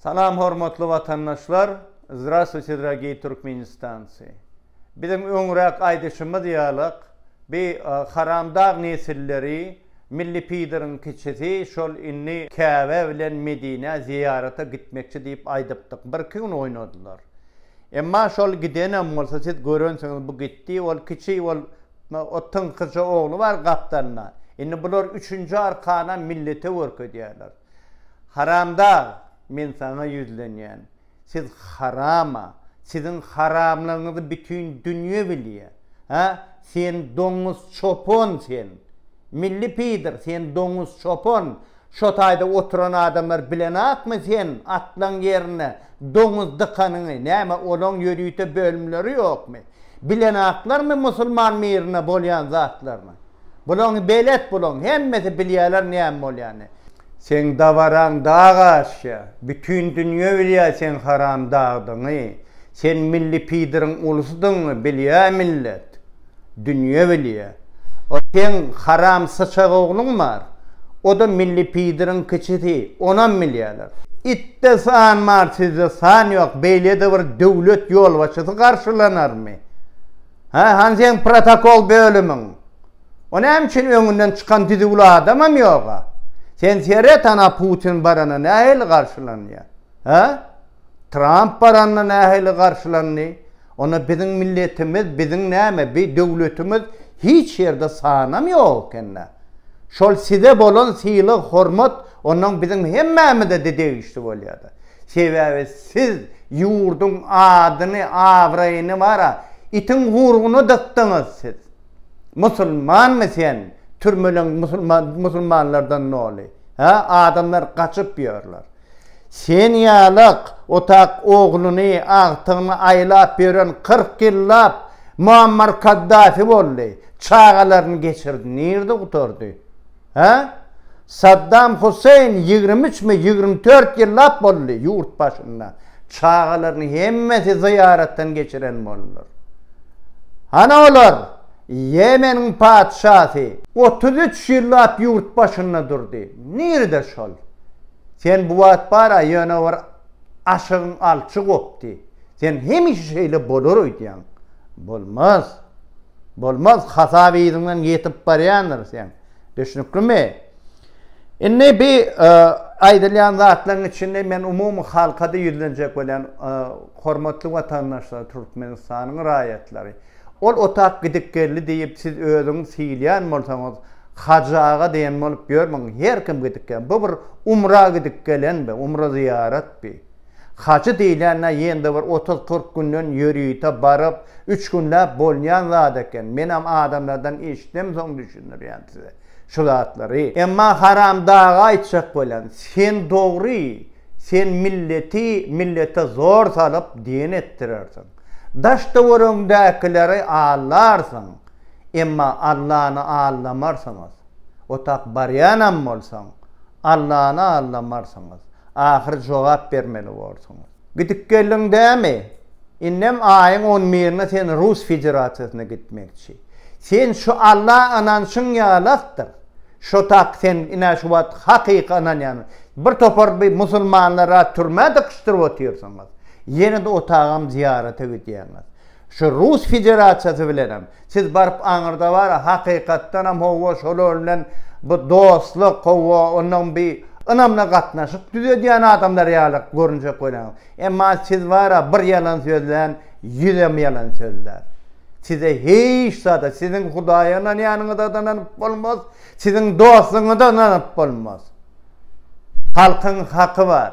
Salam hormatly watandaşlar Zdrastwuyte dragiy Türkmenistanci Biziň öňräk aýdyşymyz ýalak bi haram dag nesilleri milli pideriň kiçisi şol indi Käbä bilen Medinä zyýarata gitmekçi diýip aýdypdyk bir iki gün oýnadylar emma şol gidenem bolsa siz görensiňiz bu gitdi ol kiçi ol o tyňkyja ogly bar gapdalynda indi bular üçünji arkanam millete görkezýärler. Haramdag, men saňa ýüzlenýän. Siz harama, siziň haramlygyňyzy bütin dünýe bilýä. Hä, sen doňuz çopan sen. Milli pidr, sen doňuz çopan. Şo taýda oturan adamlar bilenakmy sen atlaň ýerine doňuz dykanyňy, näme olaň ýörite bölümleri ýokmy? Bilenaklarmy musulman mirine bolýan zatlaryny? Bulaň belet bulaň hemmesi bilýäler näme bolýany. Seň dabaraň dag aşýa. Bütin dünýe bilýä seň haram dagdyňy. Sen milli pidryň ulusydyňy bilýä millet. Dünýe bilýä. O seň haram syçag ogluň bar. Oda milli pidryň kiçisi. Onam bilýäler. Itde san bar sizde san ýok beýlede bir döwlet ýolbaşçysy garşylanarmy. Hä, hany seň protokol bölümiň? O näme üçin öňünden çykan düzüwli adamam ýoga? Sen seret hana Putin barana nähili garşylanýa? Hä? Tramp baranda nähili garşylandy? Onda biziň milletimiz, biziň näme, bi döwletimiz hiç ýerde sanam ýok ekendä? Şol size bolan sylag-hormat onnoň biziň hemmämize-de degişli bolýada. Sebäbi siz ýurduň adyny, abraýyny bara itiň gurguna dykdyňyz siz. Musulmanmy sen? Türmeleň musulmanlardan doly. Hä, adamlar gaçyp ýörler. Sen ýalyk otak ogluny, agtygyny aýlap ýören kyrk ýyllap Muammar Kaddafi boldy. Çagalaryny geçirdi. Nirde gutardy? Hä? Saddam Huseýn ýigrimi üçmi, ýigrimi dört ýyllap boldy ýurt başynda. Çagalaryny hemmesi zyýaratdan geçiren boldular. Hany olar? Ýemeniň patyşasy. Otuz üç ýyllap ýurt başynda durdy. Nirede şol? Sen bu wagt bar-a ýöne bir aşygyň alçy gopdy. Sen hemişe şeýle bolar öýdýäň. Bolmaz. Bolmaz. Hasap yzyňdan ýetip barýandyr seň. Düşnüklimi? Indi bi aýdylýan zatlaryň içinde men umumy halka-da ýüzlenjek bolýan. Hormatly watandaşlar, Türkmenistanyň raýatlary. Ol otap gidip geldi diýip siz özüňiz syýylýan bolsaňyz, Hajy aga diýen bolup ýörmäň. Her kim gidip gel. Bu bir umra gidip gelen bi, umra zyýarat bi. Hajy diýlende ýende bir otuz-kyrk günden ýörite baryp, üç günläp bolýan zat eken. Menem adamlardan eşitsem soň düşündirýän size şu zatlary. Emma Haram daga aýtjak bolýan, sen dogry, sen milleti millete zor salyp diýen etdirersiň. Daş-töweregiňdäkileri aldarsyň, emma Allany aldamarsyňyz. Otap barýanam bolsaň, Allany aldamarsyňyz. Ahyry jogap bermeli borsuňyz. Gidip geldiň dämi? Indem aýyň on birine sen Rus Federasiýasyna gitmekçi. Sen şu Alla ynanşyň ýalakdyr. Şo tak sen ine şu wagt hakyky ynanýan bir topar bi musulmanlara türmä dykyşdyryp otyrsyňyz. Ýene-de otagam zyýarata gidýäňiz. Şu Rus Federasiýasy bilenem Siz baryp aňyrda bara hakykatdanam howwa şolar bilen bu dostluk howwa onam bir ynamly gatnaşyk düzedýän adamlar ýaly görünjek bolarňyz. Emma siz bara bir ýalan sözlän ýüzem ýalan sözlär. Size hiç zada siziň hudaýa ynanýanyňyza-da ynanyp bolmaz, siziň dostuňyza-da ynanyp bolmaz. Halkyň haky bar.